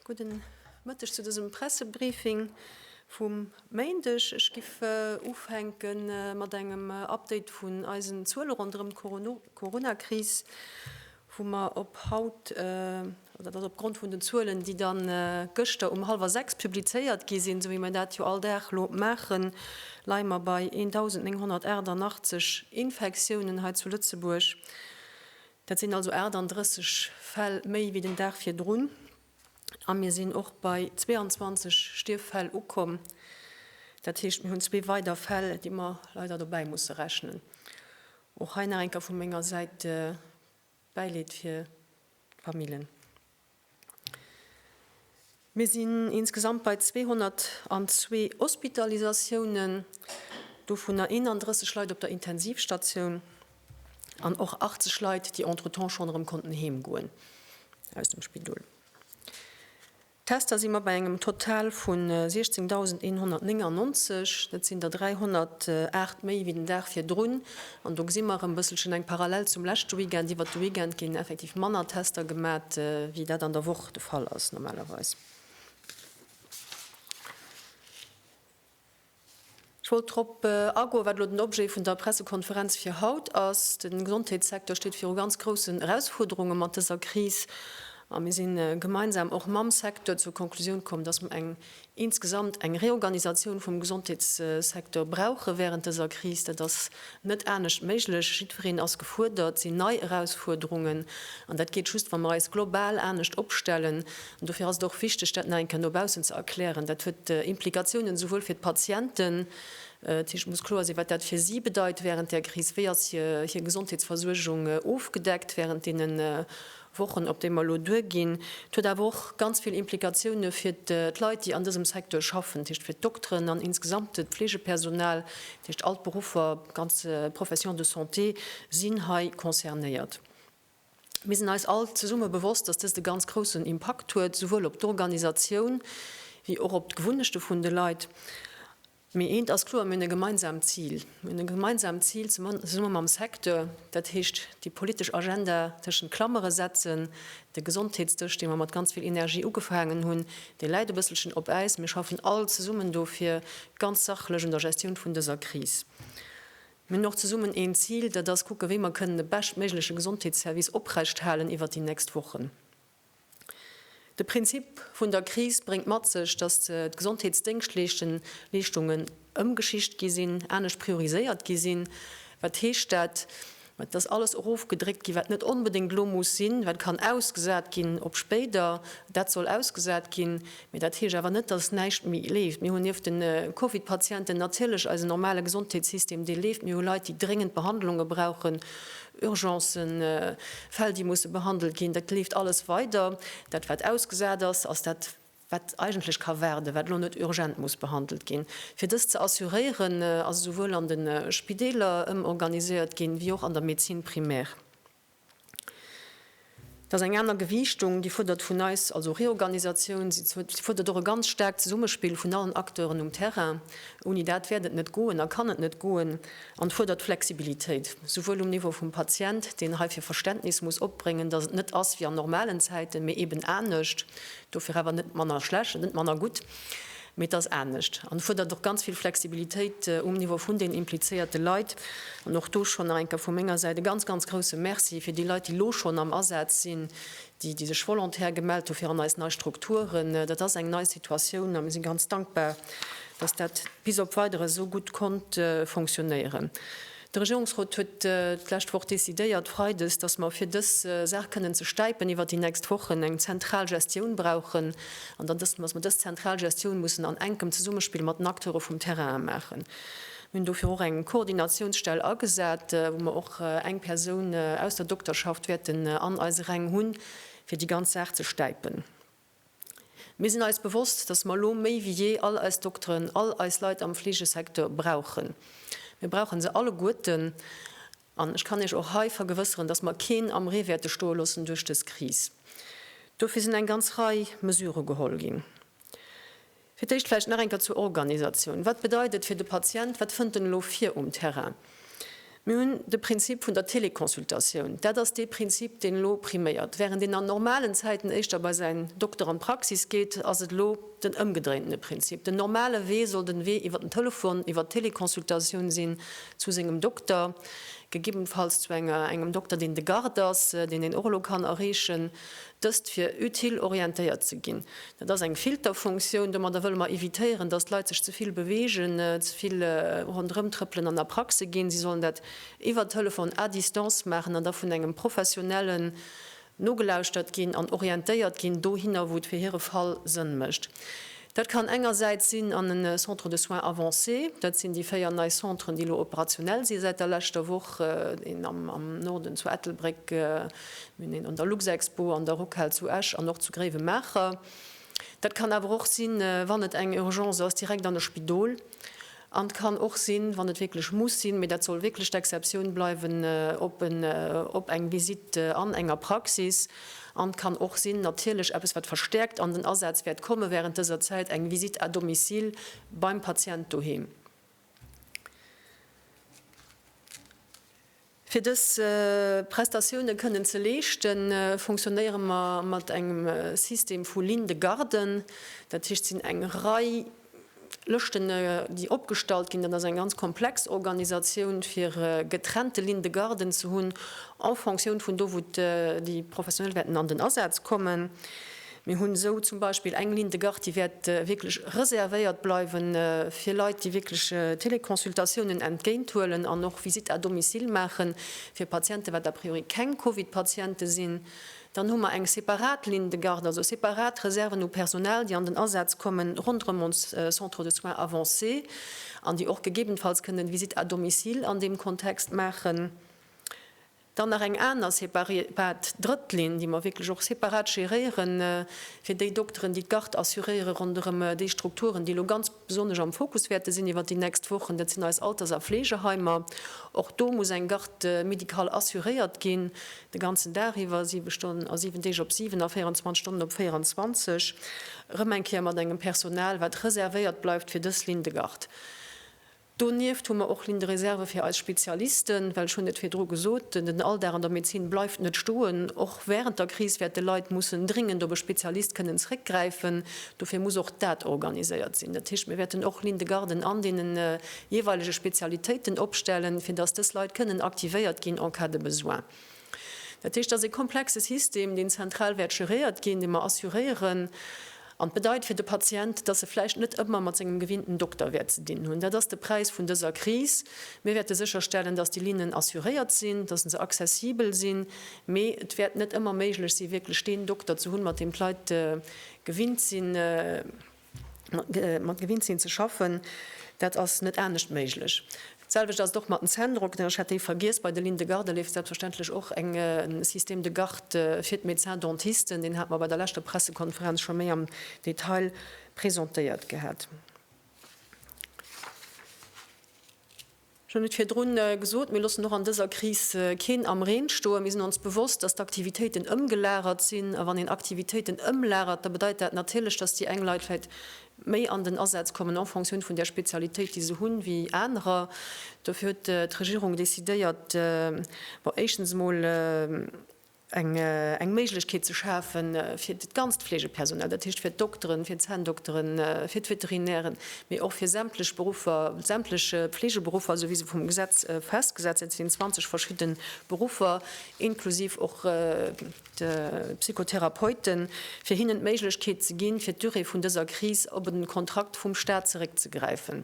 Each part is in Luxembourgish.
Gudden Mëtteg zu dësem Pressebriefing vum Méindeg. Ech géif ufänke mat engem Update vun eisen Zuele ronderëm d'Corona-Kris. wou mer op haut, oder dat ass opgrond vun den Zuelen, déi da gëschter um hallwer sechs publizéiert gi sinn, esou wéi mer dat jo all Dag elo maachen, leie mer bei 1.988 Infektiounen hei zu Lëtzebuerg. Dat sinn also 38 Fäll méi wéi den Dag virdrun. A mir sinn och bei 22 Stierffäll ukomm. Dat heescht, mir hunn zwee weider Fäll, déi mer leider dobäi musse rechnen. Och hei nach eng Kéier vu menger Säit Bäileed fir d'Famillen. Mir sinn insgesamt bei 202 Hospitalisatiounen, dovunner 31 Leit op der Intensivstatioun an och 80 Leit, déi entretemps schonn erëm konnten heemgoen aus dem Spidol. D'Tester si mat bei engem Total vu 16.199, dat sinn der 308 méi wéi den Dag virdrun. An do gesi mer erëm e bësselchen eng Parallel zum leschte Weekend. Iwwert de Weekend ginn effektiv manner Tester gemat, wéi dat an der Woch de Fall ass normalerweis. Ech wollt drop agoen, wat elo den Objet vun der Pressekonferenz fir haut ass. De Gesondheetssecteur steet viru ganz groussen Erausfuerderunge mat dëser Kris. A mir si gemeinsam och mam Secteur zur Konklusioun komm, dass mer eng insgesamt eng Reorganisatioun vum Gesondheetssecteur brauche während dëser Kris. Dat ass net anescht méiglech. Jiddwereen ass gefuerdert. Et sinn nei Erausfuerderungen. An dat geet just, wa mer eis global anescht opstellen. An dofir ass et och wichteg, dat nach eng Kéier no baussen ze erklären. Dat huet Implikatiounen esouwuel fir d'Patienten, dat heescht, et muss kloer sinn, wat dat fir si bedeit wärend där Kris, wéi ass hir Gesondheetsversuergung ofgedeckt wärend deene Wochen, op déi mer elo duerginn. Et huet awer och ganz vill Implikatioune fir d'Leit, déi an dësem Secteur schaffen, dat heescht fir d'Dokteren an insgesamt d'Fleegepersonal, dat heescht all d'Beruffer, d'ganz Professions de santé sinn hei concernéiert. Mir sinn eis all zesumme bewosst, dass dëst e ganz groussen Impakt huet, souwuel op d'Organisatioun wéi och op d'Gewunnechte vun de Leit. Mee eent ass kloer, Mir hunn e gemeinsaamt Zil. Mir hunn e gemeinsaamt Zil, zesumme mam Secteur, dat heescht déi politesch Agenda tëschent Klamere setzen, de Gesondheetsdësch, dee mer mat ganz vill Energie ugefaangen hunn, dee läit e bësselchen op Äis. Mir schaffen all zesummen do fir ganz sachlech un der Gestioun vun dëser Kris. Mir hunn och zesummen een Zil, dat ass kucken, wéi mer kënnen de beschtméigleche Gesondheetsservice oprechthalen iwwert déi nächst Wochen. De Prinzip vun der Kris bréngt mat sech, dass d'Gesondheetsdéngschtleeschtungen ëmgeschicht gi sinn, anescht prioriséiert gi sinn. Wat heescht dat? Et ass alles erofgedréckt ginn, wat net onbedéngt elo muss sinn, wat kann ausgesat ginn op spéider, dat soll ausgesat ginn. Mee dat heescht awer net, dass näischt méi leeft. Mir hunn nieft de Covid-Patienten natierlech eisen normale Gesondheetssystem, dee leeft. Mir hu Leit, déi dréngend Behandlunge brauchen, Urgencen, Fäll, déi musse behandelt ginn. Dat leeft alles weider. Dat, wat ausgesat ass, ass dat, wat eigentlech ka waarden, wat elo net urgent muss behandelt ginn. Fir dëst ze assuréieren, ass esouwuel an de Spideeler ëmorganiséiert ginn, wéi och an der Médecine primaire. Dat ass eng aner Gewiichtung, déi fuerdert vun eis also Reorganisatioun, si fuerdert och e ganz staarkt Zesummespill vun allen Acteuren um Terrain. Ouni dat wäert et net goen a kann et net goen. An fuerdert Flexibilitéit, souwuel um Niveau vum Patient, deen hei fir Verständnis muss opbréngen, datt et net ass wéi an normalen Zäiten, mee eeben anescht, dofir awer net manner schlecht, net manner gutt. Mee et ass anescht an fuerdert och ganz vill Flexibilitéit um Niveau vun den implizéierte Leit. An och do schonn nach eng Kéier vu menger Säit e ganz, ganz grousse Merci fir déi Leit, déi elo schonn am Asaz sinn, déi, déi sech volontaire gemellt hu fir an eis nei Strukturen. Dat ass eng nei Situatioun a mir si ganz dankbar, dass dat bis op Weideres esou gutt konnt funktionéieren. De Regierungsrot huet d'lescht Woch decidéiert, freides, dass mer, fir dës Saach kënnen ze stäipen iwwert déi nächst Wochen, eng zentral Gestioun brauchen an dann, dass mer dës zentral Gestioun mussen an enkem Zesummespill mat den Acteure vum Terrain maachen. Mir hunn dofir och eng Koordinatiounsstell agesat, wou mer och eng Persoun aus der Dokterschaft wäerten an eise Räng hunn, fir déi ganz Saach ze stäipen. Mir sinn eis bewosst, dass mer elo méi wéi jee all eis Dokteren, all eis Leit am Fleegesecteur brauchen. Mir brauche se alleguerten. An ech kann Iech och hei vergewësseren, dass mer keen am Ree wäerte stoe loossen duerch dës Kris. Dofir sinn eng ganz Rei Mesurë geholl ginn. Fir d'éischt vläicht nach eng Kéier zur Organisatioun. Wat bedeit et fir de Patient? Wat fënnt en elo vir um Terrain? Mir hunn de Prinzip vun der Teleconsultatioun. Dat ass dee Prinzip, deen elo priméiert. Wärend een an normalen Zäiten éischter bei säin Dokter an d'Praxis geet, ass et elo den ëmgedréintene Prinzip. Den normale Wee soll den Wee iwwer den Telefon, iwwer d'Teleconsultatioun sinn zu sengem Dokter, gegebenfalls zu engem Dokter, deen de Garde ass, deen een och elo kann erreechen. Dëst fir utile orientéiert ze ginn. Dat ass eng Filterfunktioun. Domadder wëlle mer evitéieren, datt d'Leit sech ze vill beweegen, ze vill ronderëmtrëppelen an a Praxe ginn. Si sollen dat iwwer Telefon à distance maachen an da vun engem Professionellen nogelauschtert ginn an orientéiert ginn dohinner, wou et fir hire Fall Sënn mécht. Dat kann engersäits sinn an e Centre de soins avancés, dat sinn déi véier nei Centren, déi elo operationell si säit der leschter Woch, een am Norden zu Ettelbréck, mir hunn een an der Luxexpo, an der Rockhal zu Esch an och zu Gréiwemaacher. Dat kann awer och sinn, wann et eng Urgence ass, direkt an e Spidol. An et kann och sinn, wann et wierklech muss sinn, mee dat soll wierklech d'Exceptioun bleiwen, op en, op eng Visitt an enger Praxis. An et kann och sinn, natierlech eppes, wat verstärkt an den Asaz wäert komme während dëser Zäit, eng Visitt à domicile beim Patient doheem. Fir dës Prestatioune kënnen ze leeschten, fonctionnéiere mer mat engem System vu Lignes de garde. Dat heescht, et sinn eng Rei Lëschten, déi opgestallt ginn. Dat ass eng ganz komplex Organisatioun, fir getrennte Lignes de garde ze hunn en fonction vun do, wou déi Professionell wäerten an den Asaz kommen. Mir hunn esou zum Beispill eng Ligne de garde, déi wäert wierklech reservéiert bleiwe fir Leit, déi wierklech Teleconsultatiounen entgéint huelen an och Visite à domicile maachen, fir Patienten, wat a priori keng Covid-Patiente sinn. Dann hu mer eng separat Ligne de garde, also separat Reserven u Personal, déi an den Asaz kommen ronderëm ons Centres de soins avancés an déi och gegebenfalls kënnen Visite à domicile an deem Kontext maachen. Dann nach eng aner separat drëtt Linn, déi mer wierklech och separat géréieren, fir déi Dokteren, déi d'Garde assuréieren ronderëm déi Strukturen, déi elo ganz besonnesch am Fokus wäerte sinn iwwert déi nächst Wochen. Dat sinn eis Alters a Fleegeheimer. Och do muss eng Garde médicale assuréiert ginn, de ganzen Dag iwwer, siwe Stonnen a siwen Deeg op siwen a 24 Stonnen op 24, erëm eng Kéier mat engem Personal, wat reservéiert bleift fir dës Ligne de garde. Donieft hu mer och Lignes de réserve fir eis Spezialisten, well, ech hunn et virdru gesot, den Alldag an der Medezin bleift net stoen. Och wärend der Kris wäerte Leit mussen dringend op e Spezialist kënnen zréckgräifen. Dofir muss och dat organiséiert sinn. Dat heescht, mir wäerten och Lignes de garden an deene jeeweilege Spezialitéiten opstellen, fir dass dës Leit kënnen aktivéiert ginn en cas de besoin. Dat heescht, et ass e komplexe System, deen zentral wäert geréiert ginn, dee mer assuréieren. An et bedeit fir de Patient, dass e vläicht net ëmmer mat sengem gewinnten Dokter wäert ze dinn hunn. Dat ass de Präis vun dëser Kris. Mir wäerte sécherstellen, dass déi Linnen assuréiert sinn, dass se accessibel sinn, mee et wäert net ëmmer méiglech sinn, wierklech deen Dokter ze hunn, mat deem d'Leit gewinnt sinn, mat gewinnt sinn ze schaffen, dat ass net anescht méiglech. D'selwecht ass et och mat den Zänndrockten. Ech hat déi vergiess. Bei de Lignes de garde leeft selbstverständlech och e Système de garde fir d'Médecins-dentisten. Deen hate mer bei der leschter Pressekonferenz scho méi am Detail presentéiert gehat. Ech hunn et virdrun gesot, mir loossen och an dëser Kris keen am Reen stoen. Mir sinn ons bewosst, dass d'Aktivitéiten ëmgelagert sinn. A wann een Aktivitéiten ëmlagert, da bedeit dat natierlech, dass déi eng Leit vläicht méi an den Asaz kommen en fonction vun där Spezialitéit, déi se hunn, wéi anerer. Dofir huet d'Regierung decidéiert, bon, éischtens emol, eng Méiglechkeet ze schafe fir dat ganzt Fleegepersonal, dat heescht fir d'Dokteren, fir d'Zänndokteren, fir d'Veterinären, mee och fir sämtlech Beruffer, sämtlech Fleegeberuffer, esou wéi se vum Gesetz festgesat sinn, et sinn 20 verschidde Beruffer, inklusiv och de Psychotherapeuten, fir hinnen d'Méiglechkeet ze ginn, fir d'Durée vun dëser Kris op e Kontrakt vum Staat zeréckzegräifen.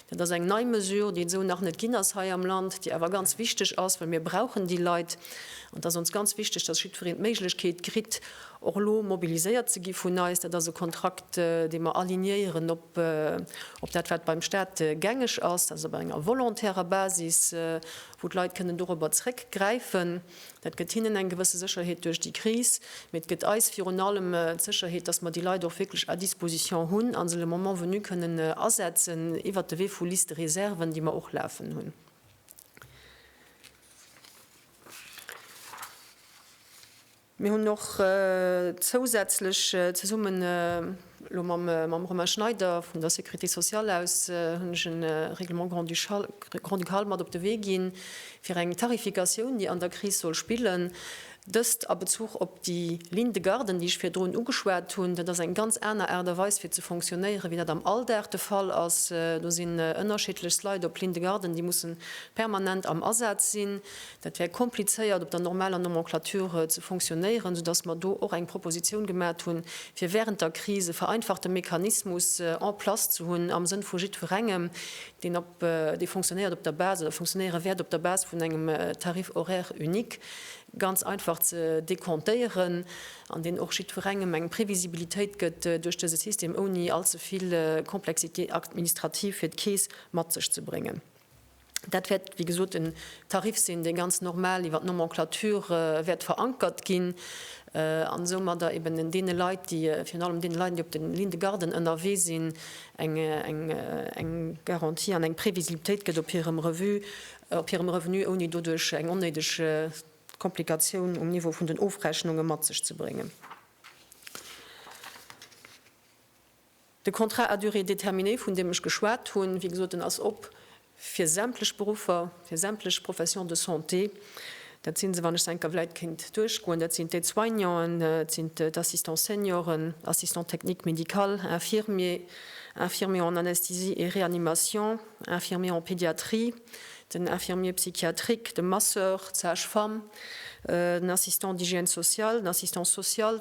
Dat ass eng nei Mesure, déi et esou nach net ginn ass hei am Land, déi awer ganz wichteg ass, well mir brauchen déi Leit. An et ass ons ganz wichteg, dass jiddwereen d'Méiglechkeet kritt, och elo mobiliséiert ze gi vun eis. Dat ass e Kontrakt, dee mer alignéieren op dat, wat beim Stat gängeg ass, also op enger volontärer Basis, wou d'Leit kënnen dorobber zrëckgräifen. Dat gëtt hinnen eng gewësse Sécherheet duerch déi Kris, mee et gëtt eis virun allem d'Sécherheet, dass mer déi Leit och wierklech à disposition hunn a se le moment venu kënnen asetzen iwwert de Wee vu Liste-réserven, déi mer och lafen hunn. Mir hunn och zousätzlech zesumme lo mam Romain Schneider vun der Sécurité sociale aus hunn ech e Règlement grand-ducal grand-ducal mat op de Wee ginn, fir eng Tarifikatioun, déi an der Kris soll spillen. Dëst a Bezuch op déi Ligne de garde, déi ech virdrun ugeschwat hunn. Dat ass eng ganz aner Aart a Weis, fir ze fonctionnéieren, wéi dat am Alldag de Fall ass. Do sinn ënnerschiddlechst Leit op Ligne de garde, déi mussen permanent am Asaz sinn. Dat wär komplizéiert op der normaler Nomenclature ze fonctionnéieren, soudass mer do och eng Proposition gemat hunn, fir während der Kris e vereinfachte Mechanismus en place ze hunn am Sënn vu jiddwerengem, deen op, dee fonctionnéiert op der Base oder fonctionnéiere wäert op der Base vun engem Tarif horaire unique, ganz einfach ze dekontéieren an deen och jiddwerengem eng Previsibilitéit gëtt duerch dese System, ouni allzevill Complexité administrative fir d'Keess mat sech ze bréngen. Dat wäert, wéi gesot, en Tarif sinn, dee ganz normal iwwer d'Nomenclature wäert verankert ginn an soumadder eben deene Leit, déi, virun allem deene Leit, déi op de Lignes de garde ënnerwee sinn, eng Garantie an eng Previsibilitéit gëtt op hirem Revu, op hirem Revenu, ouni doduerch eng onnéideg Komplikatioun um Niveau vun den Ofrechnunge mat sech ze bréngen. De Contrat à durée déterminée, vun deem ech geschwat hunn, wéi gesot, deen ass op fir sämtlech Beruffer, fir sämtlech Professions de santé. Dat si se, wann ech se enker vläit kéint duerchgoen, dat sinn d'Aide-soignanten, et sinn d'Assistants senioren, Assistants techniques médicales, Infirmiers, Infirmiers en anesthésie et réanimation, Infirmiers en pédiatrie, den Infirmier psychiatrique, de Masseur, d'Sage-femme, den Assistant d'hygiène sociale, den Assistant social.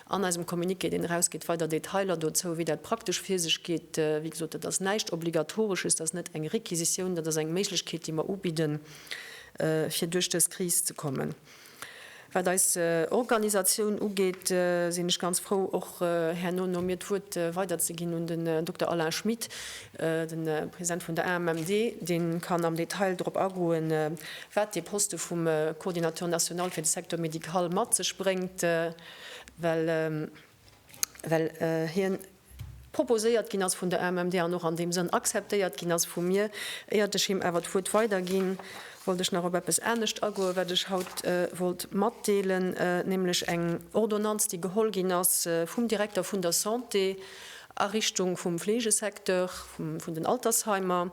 An eisem Communiqué, deen erausgeet, weider Detailer dozou, wéi dat praktesch vir sech geet. Wéi gesot, dat ass näischt Obligatoresches, dat ass net eng Requisitioun, dat ass eng Méiglechkeet, déi mer ubidden, fir duerch dës Kris ze kommen. Wat eis Organisatioun ugeet, sinn ech ganz frou, och herno no mir d'Wuert weiderzeginn un den Dokter Alain Schmit, de President vun der AMMD. Dee kann am Detail drop agoen, wat dee Poste vum Coordinateur national fir de Secteur médical mat sech bréngt. well hien proposéiert ginn ass vun der AMMD an och an deem Sënn akzeptéiert ginn ass vu mir. Éiert ech him awer d'Wuert weiderginn, wollt ech nach op eppes anescht agoen, wat ech haut wollt matdeelen, nämlech eng Ordonnanz, déi geholl ginn ass vum Direkter vun der Santé a Richtung vum Fleegesecteur, vun den Altersheimer,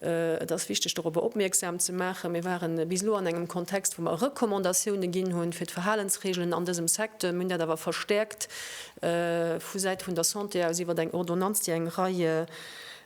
Et ass wichteg dorobber opmierksam ze maachen, mir ware bis elo an engem Kontext, wou mer Recommandatioune ginn hunn fir d'Verhalensreegelen an dësem Secteur. Mir hunn dat awer verstäerkt vu Säit vun der Santé aus iwwer eng Ordonnanz, déi eng Rei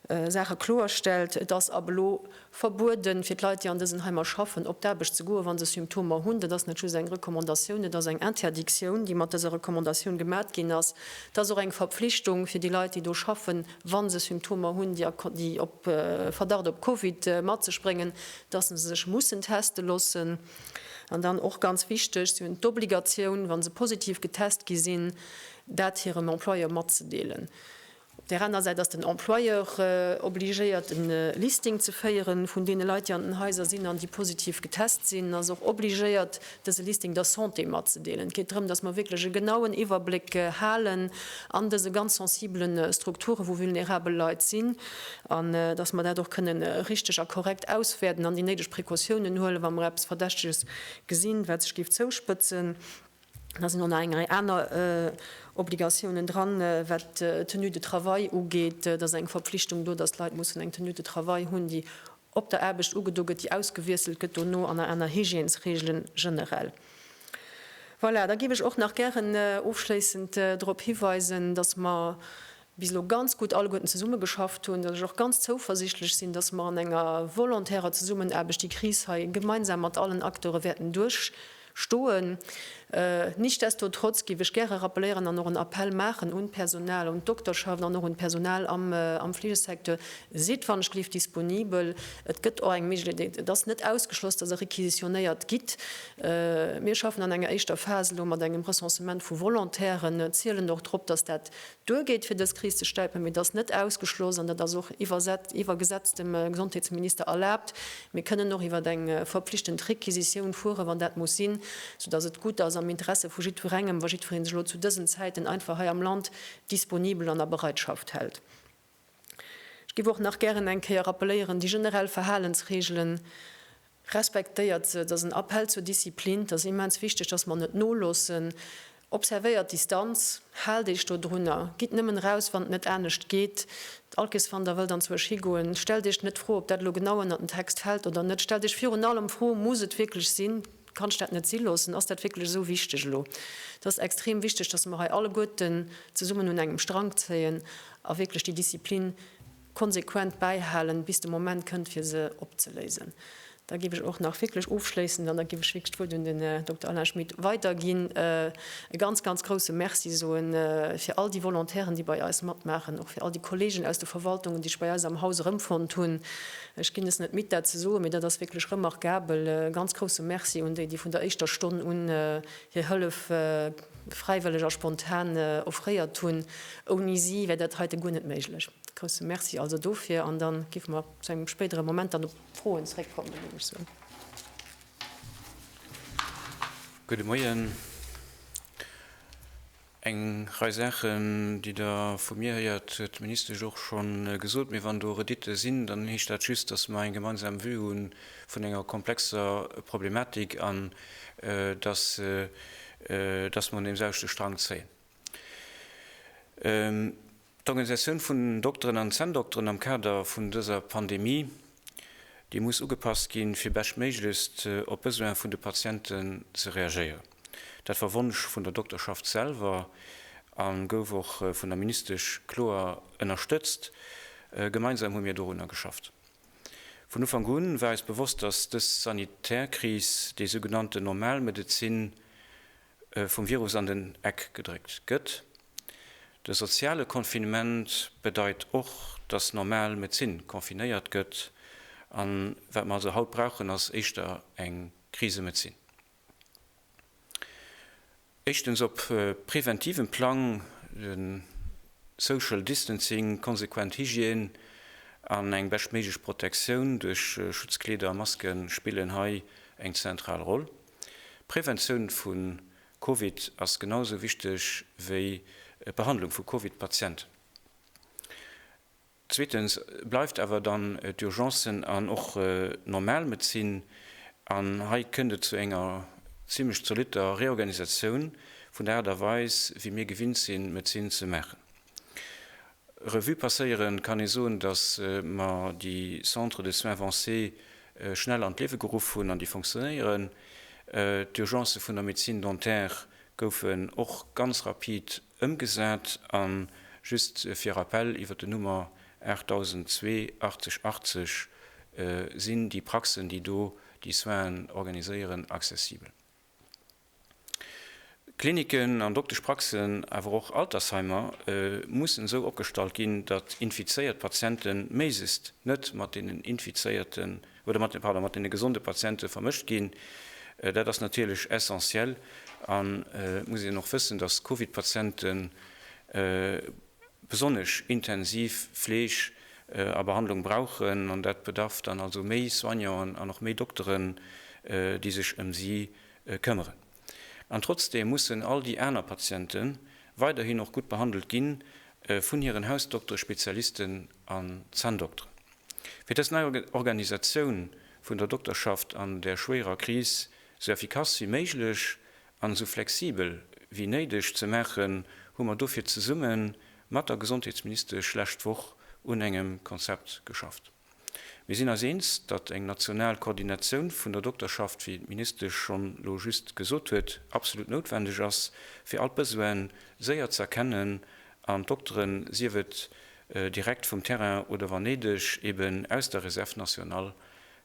Saache kloerstellt. Et ass ab elo verbueden, fir d'Leit, déi an dësen Heimer schaffen, op d'Aarbecht ze goen, wa se Symptomer hunn. Dat ass net just eng Recommandatioun, et ass eng Interdictioun, déi mat dëser Recommandatioun gemat ginn ass. Et ass och eng Verpflichtung fir déi Leit, déi do schaffen, wa se Symptomer hunn, déi op Verdacht op Covid mat sech bréngen, dass se sech mussen teste loossen. An dann och ganz wichteg, si hunn d'Obligatioun, wa se positiv getest gi sinn, dat hirem Employeur matzedeelen. Op där aner Säit ass den Employeur obligéiert, e Listing ze féiere vun deene Leit, déi an den Haiser sinn an déi positiv getest sinn, ass och obligéiert, dëse Listing der Santé matzedeelen. Et geet drëm, dass mer wierklech e genauen Iwwerbléck halen an dëse ganz sensibele Strukture wou vulnerabel Leit sinn an dass mer dat och kënne richteg a korrekt auswäerten an déi néideg Precautiounen huelen, wa mer eppes Verdächteges gesinn, wat sech géif zouspëtzen. Da sinn och nach eng Rei aner Obligatiounen dran, wat d'Tenue de travail ugeet. Et ass eng Verpflichtung do, dass d'Leit mussen eng Tenue de travail hunn, déi op der Aarbecht ugedo gëtt, déi ausgewiesselt gëtt dono an aner Hygiènesreegele generell. Voilà, da géif ech och nach gären ofschléissend drop hiweisen, dass mer bis elo ganz gutt alleguerten zesummegeschafft hunn, dass ech och ganz zouversichtlech sinn, dass mer an enger volontärer Zesummenaarbecht déi Kris hei gemeinsam mat allen Acteure wäerten duerchstinn. Stoen. Nichtsdestotrotz géif ech gäre rappelieren an och en Appell maachen un d'Personal, un d'Dokterschaft an och un d'Personal am Fleegesecteur, Sidd wannechglift disponibel. Et gëtt och eng Méiglechkeet, et ass net ausgeschloss, dass Der requisitionéiert gitt. Mir schaffen an enger éischter Phas elo mat engem Recensement vu Volontairen, zielen och drop, dass dat Duer geet fir dës Kris ze stäipen, mee et ass net ausgeschloss, an dat ass och iwwer Gesetz dem Gesondheetsminister erlaabt, mir kënnen och iwwer eng verpflichtend Requisitioun fueren, wann dat muss sinn, sou dass et gutt ass am Interesse vu jiddwerengem, wa jiddweree sech elo zu dësen Zäiten einfach hei am Land disponibel an a Bereitschaft hält. Ech giff och nach gären eng Kéier rappeléieren, déi generell Verhalensregelen, respektéiert se, et ass en Appell zur Disziplin, et ass immens wichteg, dass mer net noloossen, observéiert d'Distanz, haalt Iech dodrunner, gitt nëmmen eraus, wann et net anescht geet, d'Alkeswander wëllt an d'Zuech higoen, stellt Iech net d'Fro, ob dat elo genau ënnert den Text fält oder net, stellt Iech virun allem d'Fro, Muss et wierklech sinn? Kannst dat net si loossen? Ass dat wierklech esou wichteg elo? Et ass extrem wichteg, dass mer hei alleguerten zesummen un engem Strank zéien a wierklech déi Disziplin konsequent bäihalen, bis de Moment kënnt, fir se opzeléisen. Da géif ech och nach wierklech ofschléissend, an da géif ech wierklech d'Wuert un den Här Dokter Alain Schmit weiderginn, e ganz, ganz grouse Merci soe fir all déi Volontairen, déi bei eis matmaachen, och fir all déi Kollegen aus de Verwaltungen, déi sech bei eis am Haus erëmfonnt hunn. Ech ginn es net midd dat ze soen, mee dat ass wierklech remarquabel. E ganz grousse Merci un déi, déi vun der éischter Stonn un hir Hëllef fräiwëlleg a spontan offréiert hunn. Ouni si wär dat heite guer net méiglech. Grousse Merci also dofir an da géife mer zu engem spéidere Moment dann op d'Froen zréckkommen. Gudde Moien. Eng Rei Saachen, déi Der vu mir héiert, huet d'Ministesch och scho gesot. Mee wann do Reditte sinn, dann heescht dat just, dass mer eng gemeinsam Vue hu vun enger komplexer Problematik an dass mer un deemselwechte Strang zéien. D'Organisatioun vun den Dokteren an Zänndokteren am Kader vun dëser Pandemie, déi muss ugepasst ginn, fir beschtméiglechst op d'Besoine vun de Patienten ze reagéieren. Dat war Wonsch vun der Dokterschaft selwer a gouf och vun der Ministesch kloer ënnerstëtzt. Gemeinsam hu mir dorunner geschafft. Vun Ufank un war eis bewosst, dass dës sanitär Kris déi sougenannte normal Medezin vum Virus an den Eck gedréckt gëtt. De soziale Confinement bedeit och, datt normal Medezin confinéiert gëtt. A wat mer also haut brauchen, ass éischter eng Krisemedezin. Éischtens op preventivem Plang, de Social Distancing, konsequent Hygiène an eng beschtméiglech Protektioun duerch Schutzkleeder a Masken spillen hei eng zentral Roll. D'Präventioun vu Covid ass genau esou wichteg wéi d'Behandlung vu Covid-Patienten. Zweetens bleift awer dann d'Urgencen an och d'Normalmedezin. An hei kënnt et zu enger zimlech zolitter Reorganisatioun vun der Aart a Weis, wéi mir gewinnt sinn, Medezin ze maachen. Revue passéieren, kann ee soen, dass mer déi Centres de soins avancés schnell an d'Liewe geruff hunn an déi fonctionnéieren. D'Urgencë vun der Médecine dentaire goufen och ganz rapid ëmgesat. A just fir Rappel, Iwwert den Nummer 8002 80 80 sinn déi Praxen, déi do déi Soinen organiséieren, accessibel. Kliniken an Dokteschpraxen, awer och Altersheimer mussen esou opgestallt ginn, datt infizéiert Patiente méiglechst net mat deenen infizéierten, oder mat, pardon, mat deene gesonde Patiente vermëscht ginn. Dat ass natierlech essentiell. An et muss een och wëssen, datt Covid-Patienten, besonnesch intensiv Fleeg a Behandlung brauchen an dat bedarf dann also méi Soignanten an och méi Dokteren, déi sech ëm si këmmeren. An trotzdeem mussen all déi aner Patiente weiderhin och gutt behandelt gi vun hiren Hausdoktere, Spezialisten an Zänndokteren. Fir dës nei Organisatioun vun der Dokterschaft an der schwéierer Kris sou effikass wéi méiglech an esou flexibel wéi néideg ze maachen, hu mer dofir zesumme mat der Gesondheetsministesch lescht Woch un engem Konzept geschafft. Mir sinn eis eens, datt eng national Koordinatioun vun der Dokterschaft, wéi d'Ministesch schonn elo just gesot huet, absolut noutwendeg ass, fir all d'Besoine séier ze erkennen an d'Dokteren, sief et direkt vum Terrain oder wann néideg eeben aus der Réserve nationale,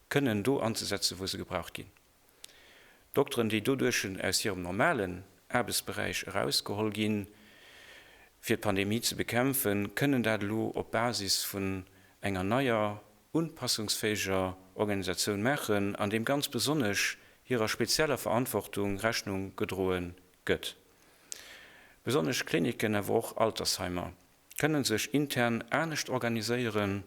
kënnen do anzesetzen, wou se gebraucht ginn. Dokteren, déi doduerchen aus hirem normalen Aarbechtsberäich erausgeholl ginn, fir d'Pandemie ze bekämpfen, kënnen dat elo op Basis vun enger neier, unpassungsfähiger Organisatioun maachen, an deem ganz besonnesch hirer spezieller Verantwortung Rechnung gedroe gëtt. Besonnesch Klinicken, awer och Altersheimer kënnen sech intern anescht organiséieren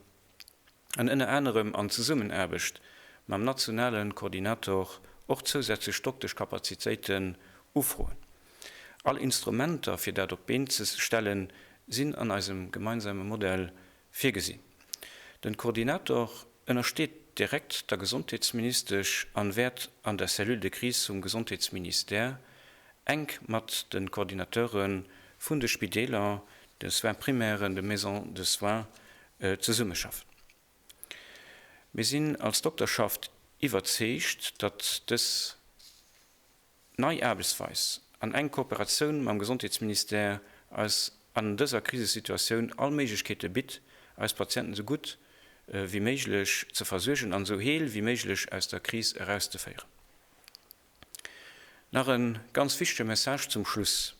an ënner anerem an Zesummenaarbecht mam nationale Koordinator och zousätzlech Dokteschkapazitéiten ufroen. All Instrumenter fir dat op d'Been ze stellen, sinn an eisem gemeinsame Modell virgesinn. Den Koordinator ënnersteet direkt der Gesondheetsministesch an wäert an der Cellule de Crise vum Gesondheetsministère enk mat de Coordinateure vun de Spideeler, de Soins primairen, de Maisons de soins zesummeschaffen. Mir sinn als Dokterschaft iwwerzeegt, datt dës nei Aarbechtsweis an enk Kooperatioun mam Gesondheetsministère eis an dëser Krisesituatioun all Méiglechkeete bitt, eis Patienten esou gutt wéi méiglech ze versuergen an esou heel wéi méiglech aus der Kris erauszeféieren. Nach e ganz wichtege Message zum Schluss,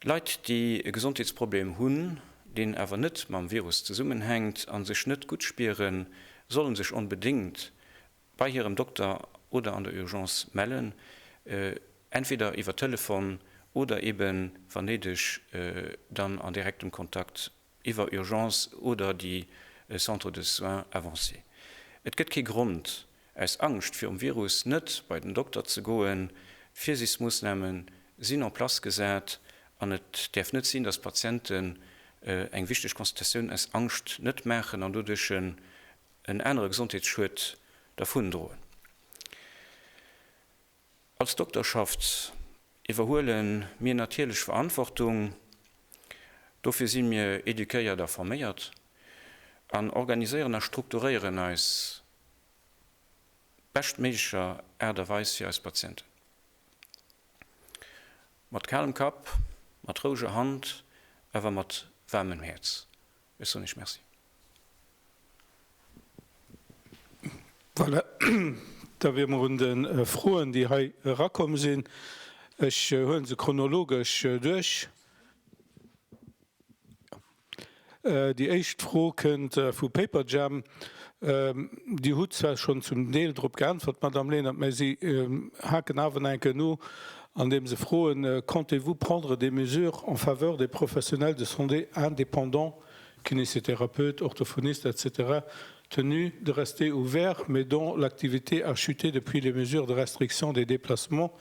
Leit, déi e Gesondheetsproblem hunn, deen awer net mam Virus zesummenhänkt, a sech net gutt spieren, solle sech onbedéngt bei hirem Dokter oder an der Urgence mellen, entweder iwwer Telefon oder eeben, wann néideg, dann an direktem Kontakt iwwer Urgence oder déi Centres de soins avancés. Et gëtt kee Grond, aus Angscht virum Virus net bei den Dokter ze goen. D'Virsichsmoossname sinn en place gesat an et däerf net sinn, datt Patienten eng wichteg Consultatioun aus Angscht net maachen an doduerch en anere Gesondheetsschued dervundroen. Als Dokterschaft iwwerhuele mir natierlech Verantwortung. Dofir si mir eduquéiert a forméiert an organiséieren a strukturéieren eis beschtméiglecher Aart a Weis fir eis Patienten. Mat kalem Kapp, mat roueger Hand, awer mat waarmem Häerz. Ech soen iech Merci. Voilà, da wiere mer un de Froen, déi hei erakomm sinn. Ech huele se chronologesch duerch. Déi éischt Fro kënnt vu Paperjam. Dir hutt zwar schonn zum Deel drop geäntwert, Madamm Lenert, mä si haken awer nach enken no, andeem se froen, Comptez-vous prendre des mesures en faveur des professionnels de santé indépendants, kinésithérapeutes, orthophonistes, etc. Tenus de rester ouverts mais dont l'activité a chuté depuis les mesures de restriction des déplacements?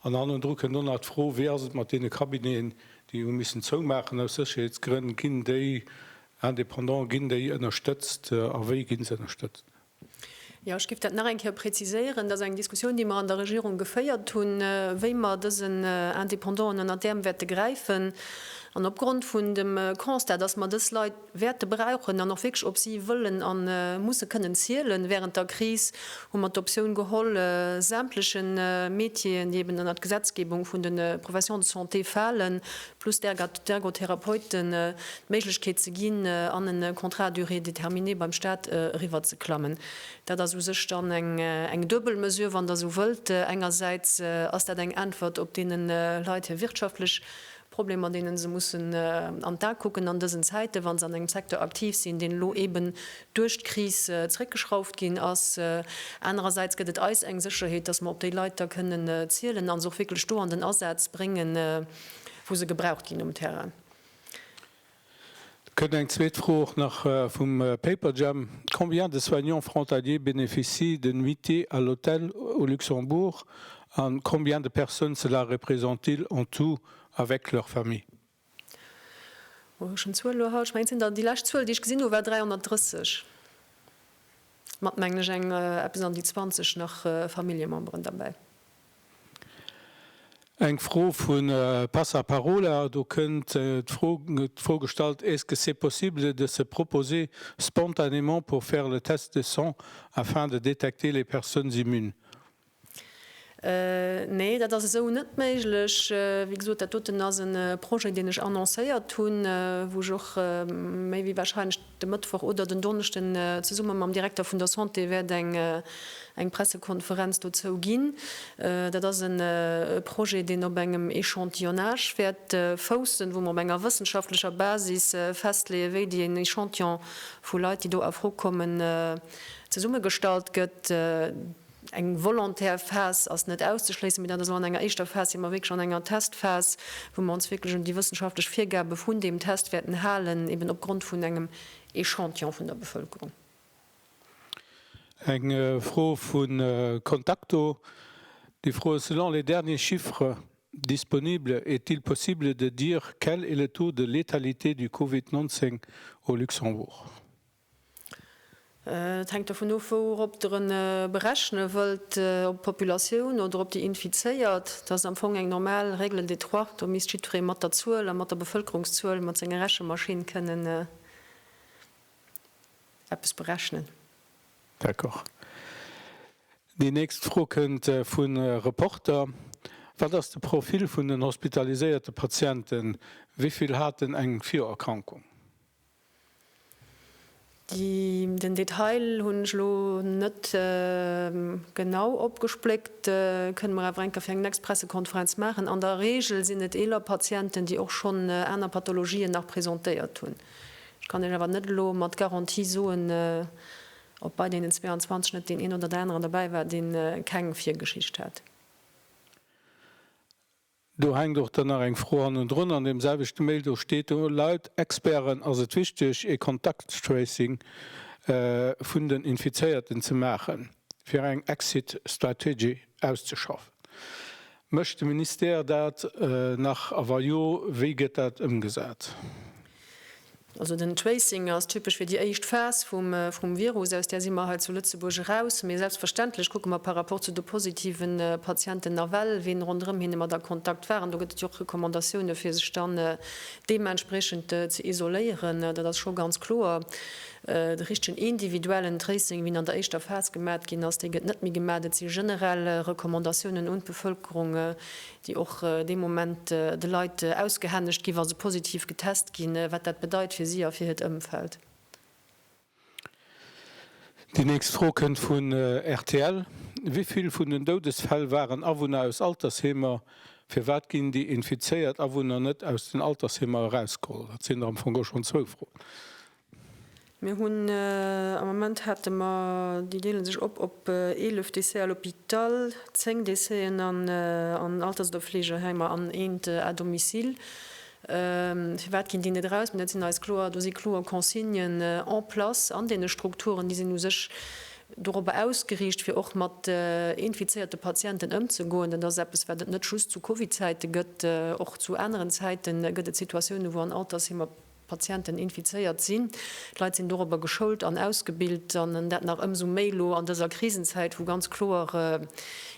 An hannendru kënn dann nach d'Fro, Wéi ass et mat deene Cabineten, déi hu missen zoumaachen aus Sécherheetsgrënn? Ginn déi indépendant, ginn déi ënnerstëtzt a wéi gi se ënnerstëtzt? Jo, ech géif dat nach eng Kéier preziséieren. Dat ass eng Diskussioun, déi mer an der Regierung geféiert hunn, wéi mer dësen Indépendanten ënnert d'Äerm wäerte gräifen. An opgrond vun dem Constat, dass mer dës Leit wäerte brauchen an och wierklech op si wëllen a musse kënnen zielen wärend der Kris, hu mer d'Optioun geholl, sämtleche Métieren, déi eben ënnert d'Gesetzgebung vun de Professions de santé falen, plus d'Ergotherapeuten d'Méiglechkeet ze ginn, an e Contrat à durée déterminée beim Staat eriwwerzeklammen. Dat ass u sech dann eng duebel Mesure, wann Der esou wëllt. Engersäits ass dat eng Äntwert op deene Leit hir wirtschaftlech Problemer, deene se mussen an d'A kucken an dësen Zäiten, wa se an engem Secteur aktiv sinn, deen elo eeben duerch d'Kris zréckgeschrauft ginn ass. Anerersäits gëtt et eis eng Sécherheet, dass mer op déi Leit da kënnen zielen a se och wierklech do an den Asaz bréngen, wou se gebraucht ginn um Terrain. Et kënnt eng zweet Fro och nach vum Paperjam, Combien de soignants frontaliers bénéficient de nuitées à l'hôtel au Luxembourg a combien de personnes cela représente-t-il en tout avec leurs familles? Hu ech en Zuel elo haut? Ech mengen, et sinn der, déi lescht Zuel, déi ech gesinn hu war 330, mat mengen ech eng eppes an déi 20 nach Familljememberen derbäi. Eng Fro vu Passaparola, do kënnt d'Fro d'Fro gestallt, Est-ce que c'est possible de se proposer spontanément pour faire le test de sang afin de détecter les personnes immunes? Nee, dat ass esou net méiglech. Wéi gesot, dat doten ass e Projet, deen ech annoncéiert hunn, wou ech och méi wéi warscheinlech, De Mëttwoch oder den Donneschden zesumme mam Direkter vun der Santé wäert eng Pressekonferenz dozou ginn. Dat ass e Projet, deen op engem Echantillonnage wäert foussen, wou mer op enger wëssenschaftlecher Basis festleeën, wéi deen Echantillon vu Leit, déi do a Fro kommen, zesummegestallt gëtt. Eng volontaire Phas ass net auszeschléissen, mee dat ass elo an enger éischter Phas, si mer wierklech an enger Testphas, wou mer ons wierklech un déi wëssenschaftlech Virgabe vun deem Test wäerten halen, eben opgrond vun engem Echantillon vun der Bevëlkerung. Eng Fro vu Contacto, déi froe selon les derniers chiffres disponibles, est-il possible de dire quel est le taux de létalité du Covid 19 au Luxembourg? Et hänkt dovun of, wourop Der en berechne wëllt, op d'Populatioun oder op déi Infizéiert. Dat ass am Fong eng normal Règle de trois. Do misst jiddweree mat der Zuel a mat der Bevëlkerungszuel, mat senger Rechemaschinn kënnen eppes berechnen. D'accord. Déi nächst Fro kënnt vun Reporter, Wat ass de Profil vun den hospitaliséierte Patienten? Wéi vill haten eng Virerkrankung? Den Detail hunn ech elo net genau opgespléckt, kënne mer awer enker fir eng next Pressekonferenz maachen. An der Regel sinn et eeler Patienten, déi och schonn aner Pathologien nach presentéiert hunn. Ech kann Iech awer net elo mat Garantie soen, ob bei deenen 22 net deen een oder deen aneren dobäi war, dee keng Virgeschicht hat. Do hänkt och dann nach eng Fro hannendrun. An deem selwechte Mail do steet do, laut Experten ass et wichteg ee Kontaktstracing vun den Infizéierten ze maachen, fir eng Exit Strategy auszeschaffen. Mécht de Ministère dat nach a wa jo, wéi gëtt dat ëmgesat? Also den Tracing ass typesch fir déi éischt Phas vum Virus. Aus där si mer hei zu Lëtzebuerg eraus. Mee selbstverständlech kucke mer par rapport zu de positive Patienten nawell, ween ronderëm hinne mat a Kontakt war. An do gëtt et jo och Recommandatioune fir sech dann deementspreechend ze isoléieren. Dat ass scho ganz kloer. De richtegen individuellen Tracing, wien an der éischter Phas gemat ginn ass, dee gëtt net méi gemat. Et si generell Recommandatiounen un d'Bevëlkerung, déi och dee Moment de Leit ausgehännegt ginn, wa se positiv getest ginn, wat dat bedeit fir si a fir hiert Ëmfeld. Déi nächst Fro kënnt vun rtl, Wéi vill vun den Doudesfäll waren Awunner aus Altersheemer? Firwat ginn déi infizéiert Awunner net aus den Altersheemer erausgeholl? Dat sinn der am Fong och schonn zwou Froen. Mir hunn, am Moment hate mer, déi deele sech op op 11 Décès à l'hôpital, 10 Décésen an Alters oder Fleegeheimer an eent à domicile. Firwat ginn déi net eraus? Mä dat sinn eis kloer, do si kloer Consignen en place an deene Strukturen. Déi sinn u sech dorobber ausgeriicht, fir och mat infizéierte Patienten ëmzegoen. Dat ass eppes, wat et net just zu Covid-Zäite gëtt. Och zu aneren Zäite gëtt et Situatiounen, wou an Altersheemer Patienten infizéiert sinn. D'Leit sinn dorobber geschoult an ausgebilt an dat nach ëmsou méi elo an dëser Krisenzäit, wou ganz kloer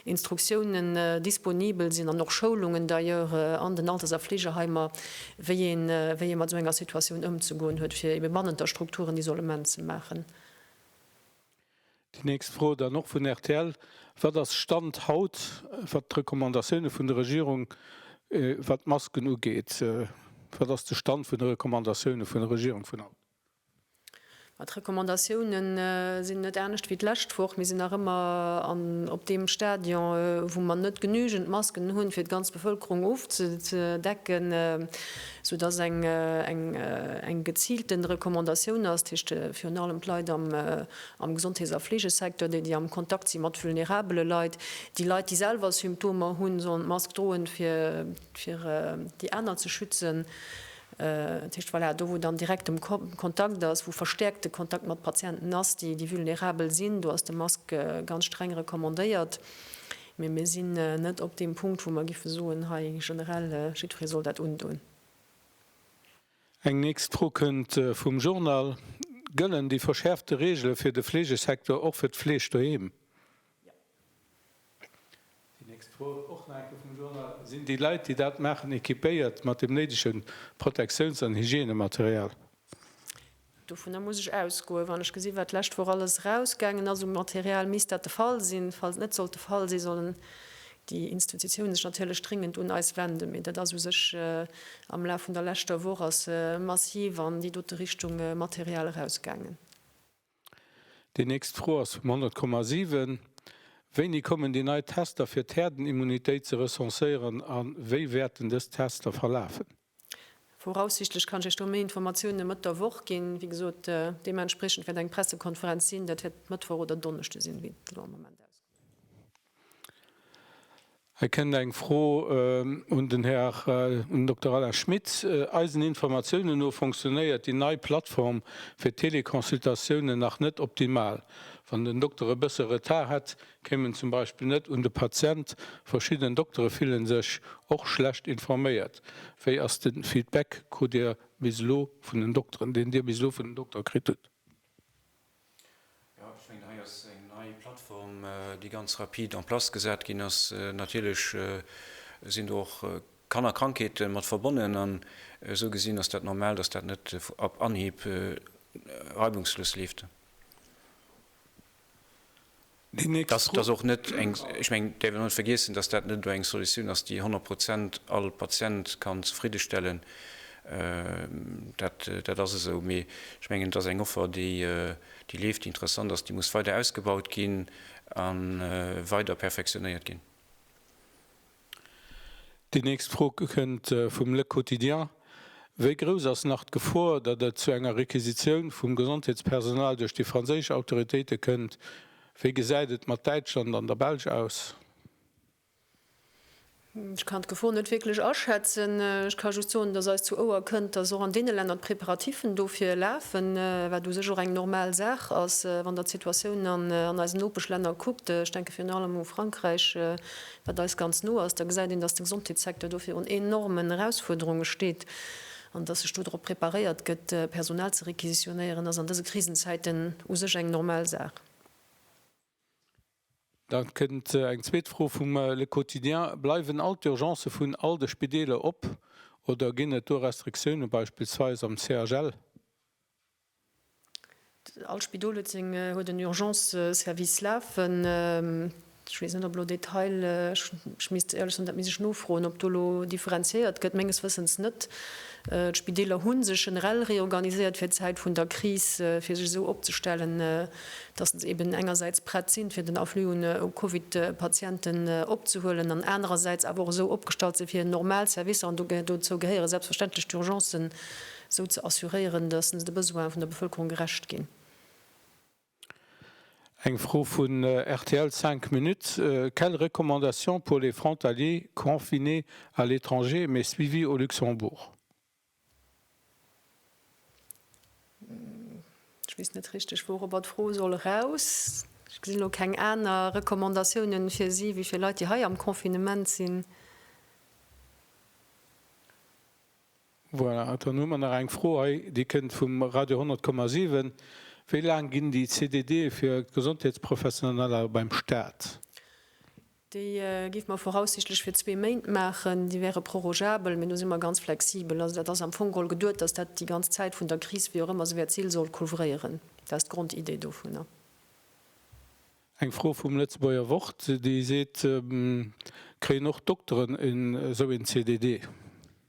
Instruktiounen disponibel sinn an och Schoulungen d'ailleurs an den Alters a Fleegeheimer, wéi ee mat esou enger Situatioun ëmzegoen huet, fir ebe bannent der Strukturen Isolement ze maachen. Déi nächst Fro dann och vun rtl, Wat ass Stand haut, wat d'Recommandatioune vun der Regierung, wat d'Masken ugeet? Wat ass de Stand vun de Recommandatioune vun der Regierung vun haut? Ma d'Recommandatioune sinn net anescht wéi d'lescht Woch. Mir sinn nach ëmmer op deem Stadion, wou mer net genügend Masken hunn, fir d'ganz Bevëlkerung ofzedecken. sou dass eng eng geziilten Recommandatioun ass, dat heescht virun allem d'Leit am am Gesondheets a Fleegesecteur, déi déi am Kontakt si mat vulnerabele Leit, déi Leit déi selwer Symptomer hunn, sollen d'Mask droen, fir fir déi aner ze schützen. Dat heescht, voilà, do wou dann direkt de Kontakt ass, wou verstäerkt de Kontakt mat Patienten ass, déi déi vulnerabel sinn, do ass de Mask ganz streng recommandéiert. Mee mir sinn net op deem Punkt, wou mer géife soen, hei generell, jiddweree soll dat undoen. Eng nächst Fro kënnt vum Journal, Gëllen déi verschäerfte Reegele fir de Fleegesecteur och fir d'Fleesch doheem? Déi nächst Fro, och nach enke vum Journal, Sinn déi Leit, déi dat maachen, equipéiert mat dem néidege Protektiouns an Hygienematerial? Dovunner muss ech ausgoen. Wann ech gesinn, wat d'lescht Woch alles erausgaangen ass u Material, misst dat de Fall sinn. Falls et net sollt de Fall sinn, sollen déi Institutionen sech natierlech dringend un eis wenden. Mee dat ass u sech am Laf vun der leschter Woch ass massiv an déi dote Richtung Material erausgaangen. Déi nächst Fro ass vum 100,7. Wéini kommen déi nei Tester fir d'Herdenimmunitéit ze recenséieren a wéi wäerten dës Tester verlafen? Voraussichtlech kann ech Iech do méi Informatiounen Mëtt der Woch ginn. Wéi gesot, deementspriechend wäert eng Pressekonferenz sinn. Dat wäert Mëttwoch oder Donneschde sinn, wéi et elo am Moment ausgesäit. Hei kënnt eng Fro un den Här Dokter Alain Schmit. Eisen Informatiounen no fonctionnéiert déi nei Plattform fir Teleconsultatiounen nach net optimal. Wann den Dokter e bësse Retard hätt, Kéimen zum Beispill net un de Patient. Verschidden Doktere fillen sech och schlecht informéiert. Wéi ass de Feedback? Krut Dir bis elo vun den Dokteren, deen Dir bis elo vun den Doktere kritt hutt? Jo, ech mengen hei ass eng nei Plattform, déi ganz rapid en place gesat ginn ass. Natierlech sinn do och Kannerkrankheete mat verbonnen an esou gesinn ass dat normal, dass dat net op Anhieb reibungslos leeft. Dass dat och net eng, ech mengen, däerf een och net vergiessen, dass dat net eng Solutioun ass, déi honnert Prozent all Patient kann zefriddestellen. Dat ass esou. Mee ech mengen, et ass eng Offer, déi leeft, déi interessant ass, déi muss weider ausgebaut ginn a weider perfektionéiert ginn. Déi nächst Fro kënnt vum Le Quotidien, Wéi grouss ass nach d'Gefor, datt et zu enger Requisitioun vum Gesondheetspersonal duerch déi franséisch Autoritéite kënnt? Wéi gesäit et mat Däitschland an der Belsch aus? Ech kann d'Gefor net wierklech aschätzen. Ech ka just soen, datt eis zu Ouer kënnt, datt och an deene Länner d'Preparativen dofir lafen, wat u sech och eng normal Saach ass. Wann Der d'Situatioun an eisen Nopeschlänner kuckt, ech denke virun allem u Frankräich, wat eis ganz no ass, da gesäit een, dass de Gesondheetssecteur do virun enormen Erausfuerderunge steet an dass sech do drop preparéiert gëtt, Personal ze requisitionéieren, ass an dëse Krisenzäiten u sech eng normal Saach. Da kënnt eng zweet Fro vum Le Quotidien, Bleiwen all d'Urgencë vun all de Spideeler op oder ginn et do Restriktioune beispillsweis am CHL? All Spidol huet seng huet en Urgence Service lafen. Ech weess net op elo Detail ech misst éierlech sinn dat misst ech nofroen op do elo differenziéiert gëtt. Menges Wëssens net. D'Spideeler hu sech generell reorganiséiert fir d'Zäit vun der Kris fir sech esou opzestellen, datt se eben engersäits prett sinn, fir den Afflux un Covid Patienten opzehuelen an anerersäits awer och esou opgestallt sinn, fir normal Servicer an dozou gehéiere selbstverständlech d'Urgencen, esou ze assuréieren, datt se de Besoine vun der Bevëlkerung gerecht ginn. Eng Fro vun rtl Cinq Minutes, Quelles recommandations pour les frontaliers confinés à l'étranger mais suivis au Luxembourg? Ech weess net richteg, wourobber d'Fro soll eraus. Ech gesinn elo keng aner Recommandatiounen fir si wéi fir Leit, déi hei am Confinement sinn. Voilà, dann hu mer nach eng Fro hei, déi kënnt vum Radio 100,7. Wéi laang ginn déi CDDe fir d'Gesondheetsprofessioneller beim Staat? Déi géife mer voraussichtlech fir zwee Méint maachen. Déi wäre prorogeabel, mee do si mer ganz flexibel. Also dat ass am Fong geholl geduet, dass dat déi ganz Zäit vun der Kris, wéi och ëmmer se wäert sinn, soll couvréieren. Dat ass d'Grondidee dovunner. Eng Fro vum Lëtzebuerger Wort, déi seet, Kréien och d'Dokteren esou een CDD?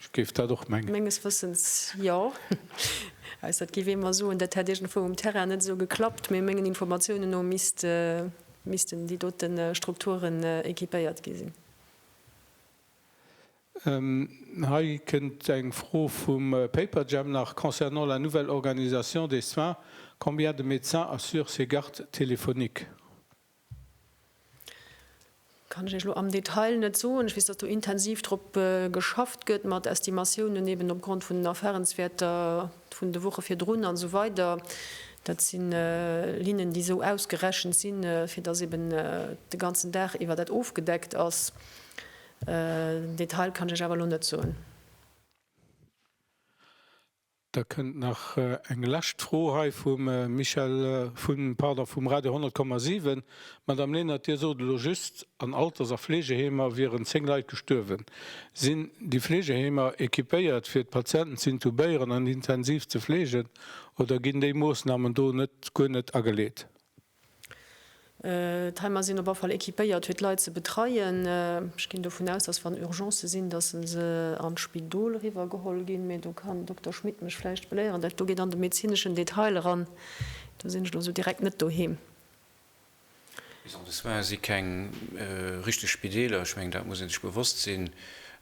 Ech géif dat och mengen. Menges Wëssens jo. Ausser et géif ee mer soen, dat hätt iergendwou um Terrain net esou geklappt. Mee mengen Informatiounen no missten déi dote Strukturen équipéiert gi sinn. Hei kënnt eng Fro vum Paperjam nach concernant la nouvelle organisation des soins, combien de médecins assurent ces gardes téléphoniques? Kann ech Iech elo am Detail net soen. Ech weess, datt do intensiv drop geschafft gëtt, mat Estimatiounen eben opgrond vun den Erfahrenswerter vun de Woche virdrun an esou weider. Dat si Linnen, déi esou ausgerechent sinn, fir datt eben de ganzen Dag iwwer dat ofgedeckt ass. Den Detail kann ech Iech awer elo net soen. Da kënnt nach eng lescht Fro hei vum Michel vun, pardon, vum Radio 100,7. Madame Lenert, Dir sot elo just, an Alters a Fleegeheemer wieren 10 Leit gestuerwen. Sinn déi Fleegeheemer equipéiert, fir d'Patienten ze intubéieren an intensiv ze fleegen, oder ginn déi Moossnamen do net, guer net ageleet? D'Heim a sinn op all Fall equipéiert fir d'Leit ze betreien. Ech ginn dovun aus, datt wann Urgencë sinn, datt se an d'Spidol eriwwer geholl ginn. Mee do kann den Dokter Schmit mech vläicht beléieren, dat do geet an de medezineschen Detail eran. Do sinn ech elo esou direkt net doheem. Bis an de Soin si keng richteg Spideeler. Ech mengen, dat muss ee sech bewosst sinn.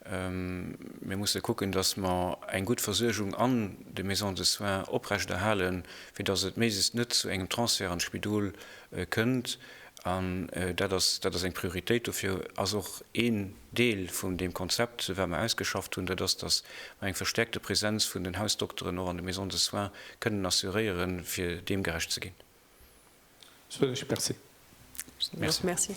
Mir musse kucken, datt mer eng gutt Versuergung an de Maisons de soins oprechterhalen, fir datt et méises net zu engem Transfert an d'Spidol kënnt, an dat ass, dat ass eng Prioritéit, dofir ass och een Deel vun deem Konzept, wat mer ausgeschafft hunn, dat ass, datt mer eng verstärkte Präsenz vun den Hausdokteren och an de Maisons de soins kënnen assuréieren, fir deem gerecht ze ginn. Merci.